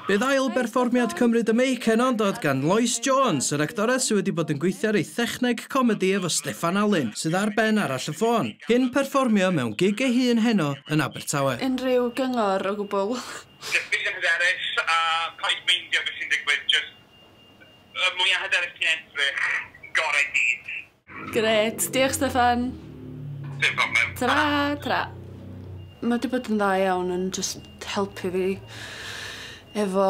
Bydd ail berfformiad Cymru The Make yn dod gan Lois Jones, yr actores sydd wedi bod yn gweithio ar ei thechneg comedi efo Steffan Alun, sydd ar ben arall y ffôn, cyn perfformio mewn gig ei hun heno yn Abertawe. Unrhyw gyngor o gwbwl? Jyst beidio hyderus a paid meindio beth sy'n digwydd, jyst y mwya hyderus ti'n edrych, gorau ti. Gret, diolch Steffan. Dim problem. Tra, tra. Mae wedi bod yn dda iawn yn just helpu fi efo,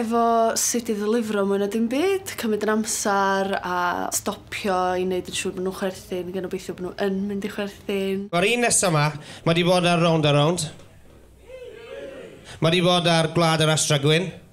efo sut i ddilifro mwy na dim byd, cymryd yn amser a stopio i wneud yn siŵr bod nhw'n chwerthin, gan obeithio bod nhw yn mynd i chwerthin. Mae'r un nesaf yma, mae wedi bod ar Rownd a Rownd. Mae wedi bod ar Gwlad yr Astra Gwyn.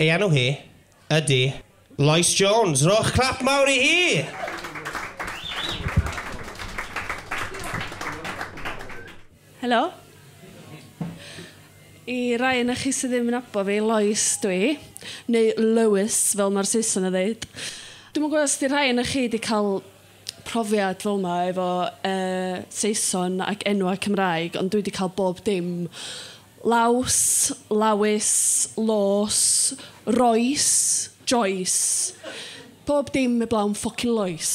Ei enw hi ydy Lois Jones. Rhowch clap mawr i hi! Helo. I rai ohonoch chi sydd ddim yn nabod fi, Lois dw i, neu Lois fel mae'r Saeson yn ddeud. Dwi'm yn gwybod os 'di rhai ohonoch chi 'di cael profiad fel 'ma efo yy Saeson ac enwa' Cymraeg ond dwi 'di ca'l bob dim. Laws, lawys, lôs, roes, joes. Pob dim eblaw 'm ffwcin loes.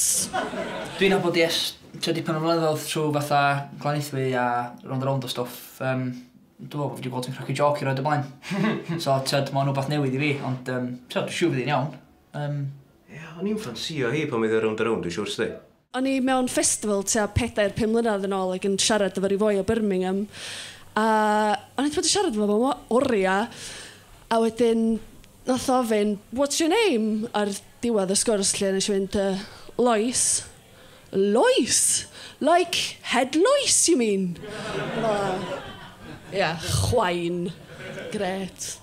Dwi'n nabod hi ers tua dipyn o flynyddodd trw fatha Glanaethwy a rownd a rownd o stwff yym dwi me'wl bo' fi 'di gweld hi'n cracio jôc i roed o blaen. So t'od ma' o'n wbath newydd i fi ond yym t'od dwi siŵr fydd 'i'n iawn. Yym. Ia, o'n i'n ffansïo hi pan oedd hi rownd a rownd, dwi'n siwr 'sdi. O'n i mewn festival tua pedair, pum mlynedd yn ôl ac yn siarad efo ryw foi o Birmingham a o'n i 'di bod yn siarad efo fo am oria a wedyn nath o ofyn what's your name? Ar diwedd y sgwrs 'lly nes i fynd yy Lois. Lois! Like head lois you mean? Ie, chwain. Grêt.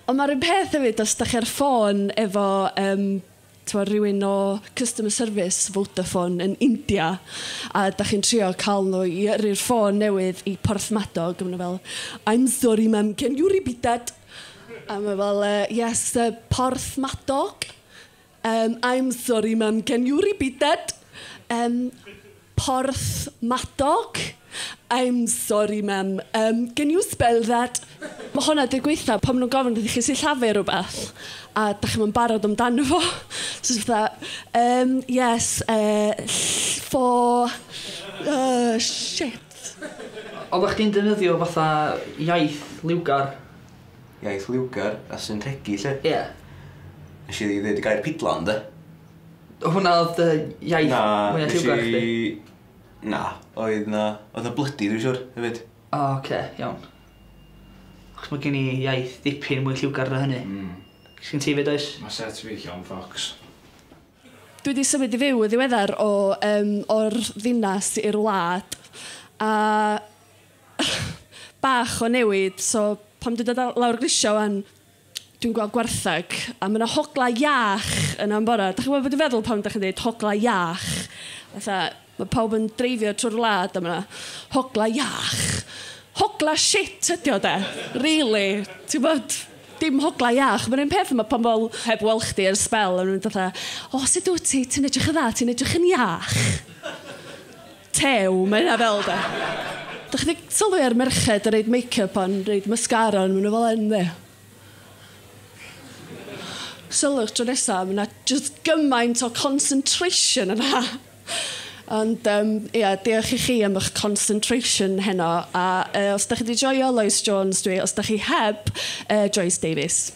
Ond mae'r un peth hefyd os da chi ar y ffôn efo yym tibod, rhywun o customer service Vodafone yn India a da chi'n trio cael nhw i yrru'r ffôn newydd i Porthmadog a maen nhw fel I'm sorry ma'am, can you repeat that? A mae fel yy yes, Porthmadog? Yym, I'm sorry mam, can you repeat that? Yym, Porthmadog? I'm sorry mam, yym, can you spell that? Mae hwnna 'di gweithio pan maen nhw'n gofyn wrthych chi sillafu rhywbeth a dach chi'm yn barod amdano fo. So jyst fatha, yym, yes, eh, ll- for, uh, shit. Oeddach chdi'n defnyddio fatha iaith liwgar? iaith liwgar a sy'n rhegi 'lly. Ie. Nes i ddeud y gair pidlan 'de? Hwnna oedd dy iaith Na, mwya nes lliwgar chdi? i... Na, oedd 'na... Oedd 'na blydi dwi'n siŵr hefyd. O oce, iawn. Achos ma' gen i iaith dipyn mwy lliwgar na hynny. Hmm. Sgin ti 'fyd oes? Ma' set fi llawn ffocws. Dwi 'di symud i fyw yn ddiweddar o yym o'r ddinas i'r wlad a bach o newid so pan dwi'n dod lawr y grisiau wan dwi'n gweld gwartheg a mae yna hogla iach yna am bore. Dach chi'n gwybod beth dwi'n feddwl pan dach chi'n dweud hogla iach? Fatha mae pawb yn dreifio trwy'r wlad a mae yna hogla iach. Hogla shit ydi o de. Really. Ti'n gwybod? Dim hogla iach. Mae'n un peth mae pan pobl heb weld chdi ar sbel a nhw'n mynd fatha o sut wyt ti? Ti'n edrych yn dda, ti'n edrych yn iach. Tew, mae hynna fel de. Dych chi 'di sylwi ar merched yn reid makeup a'n reid mascara arnyn nhw fel hyn dde? Sylwch tro nesa, mae 'na jyst gymaint o concentration yna. Ond um, ia, diolch i chi am eich concentration heno. A uh, os da chi wedi joio Lois Jones, dwi, os da chi heb, uh, Joyce Davies.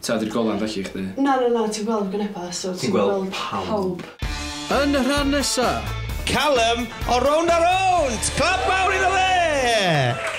Ta ydy'r golan felly i chdi? Na na na ti'n gweld gwyneba so ti'n gweld pawb. Yn y rhan nesa! Callum o Rownd a Rownd! Clap mawr iddo fe!